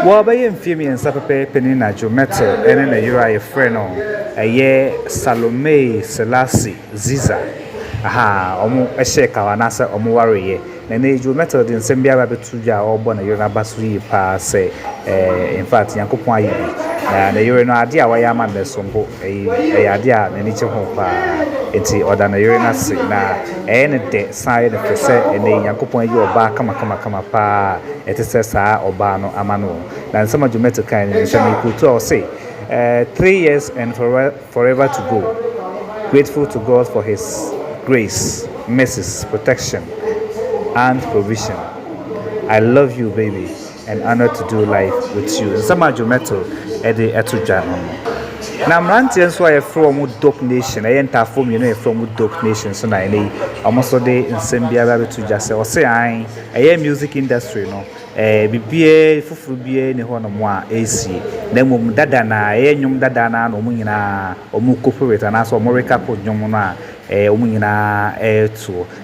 Wɔ bɛyɛ mfeɛ mmiɛnsa pɛpɛɛpɛ ni na Djomete ne ne yere a yɛfrɛ no ɛyɛ Salomee Selasi Ziza ahaa ɔmo hyɛɛ kawa anaasɛ ɔmo wareeɛ. Na ɛnɛ yi Djomete ɔde nsɛm bi aba abɛto dwa a ɔrebɔ ne yere no aba so yie paa sɛ ɛɛ in fact Nyankopɔn ayɛ bi. Na ne yere no adeɛ a wayɛ ama no no ɛsom bo, ɛyɛ adeɛ a n'ani gye ho paa. Nti ɔda ne yere no ase na ɛyɛ no dɛ. San yɛ no fɛ sɛ ɛnnɛ yi Nyankopɔn ayi ɔbaa kamakamakama paa a ɛte sɛ saa ɔbaa no ama no. Na nsɛm a Jumetu kae no, sɛ merekootu a, ɔse, Three years and forever to go, grateful to God for His grace, mercies, protection and provision. I love you baby. and honour to do life with you nsɛm a Joe Mettle de to dwa no no. Na mmeranteɛ nso a yɛfrɛ wɔn Dope Nation, ɛyɛ ntaafoɔ mmienu a yɛfrɛ wɔn Dope Nation nso na ɛnɛ yi wɔn nso de nsɛm biara abɛto dwa sɛ ɔse an ɛyɛ music industry no ɛɛ eh, biribiara foforo biara ni hɔ nom a ɛresie na mmom dada na ɛyɛ nnwom dada na na wɔn nyinaa wɔn kɔpowet anaasɛ wɔn rekako nnwom no a ɛɛ eh, wɔn nyinaa ɛretoɔ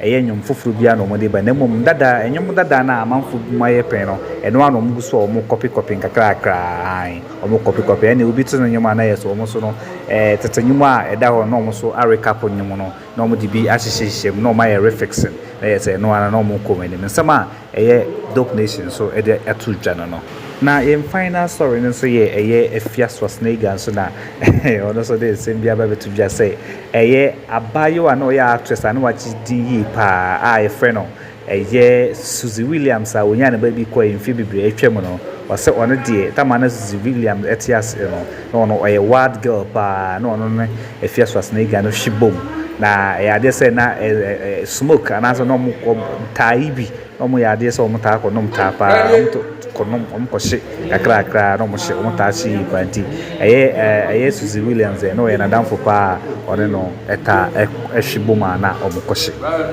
Ɛyɛ nnwom foforo biara na wɔde ba, na mmom dada, nnwom dada no a amanfo bom ayɛ pɛn no, ɛno ara na wɔgu so a wɔrekɔpekɔpe nkakrakra. Aane, wɔrekɔpekɔpe. Ɛnde obi to nnwom a na ɛyɛ sɛ wɔn nso no, ɛɛ, tete nnwom a ɛda hɔ no, na wɔn nso arecap nnwom no, na wɔde bi ahyehyɛhyehyɛ mu, na wɔayɛ refixing, na ɛyɛ sɛ ɛno ara na wɔrekɔ wɔn anim. Nsɛm a. ɛyɛ Dope Nation nso de ato dwa no no. Na yɛn Final Asɔre no nso yɛ ɛyɛ Afia Swasneiga nso na ɔno nso de nsɛm bi aba abɛto dwa sɛ ɛyɛ abaayewa a na ɔyɛ actress a na wagye din yie paa a yɛfrɛ no ɛyɛ Suzy Williams a ɔnyaa ne ba bi kɔe mfeɛ bebree atwam no, ɔsɛ ɔno deɛ Tamana Suzy Williams te aseɛ no. na ɔno ɔyɛ wild girl paa na ɔno ne Afia Suasana Iga no hwe bom na ɛyɛ adeɛ sɛ na smoke anaasɛ na ɔmo taa yi bi na ɔmo yɛ adeɛ sɛ ɔmo taa kɔ nom taa paa ɔmo kɔ nom ɔmo kɔ hye kakra kakra na ɔmo hye ɔmo taa hye yi paa nti ɛyɛ ɛyɛ Suzy Williams yɛ na ɔyɛ n'adamfo paa ɔne no ɛtaa ɛhwe bom a na ɔmo kɔ hye.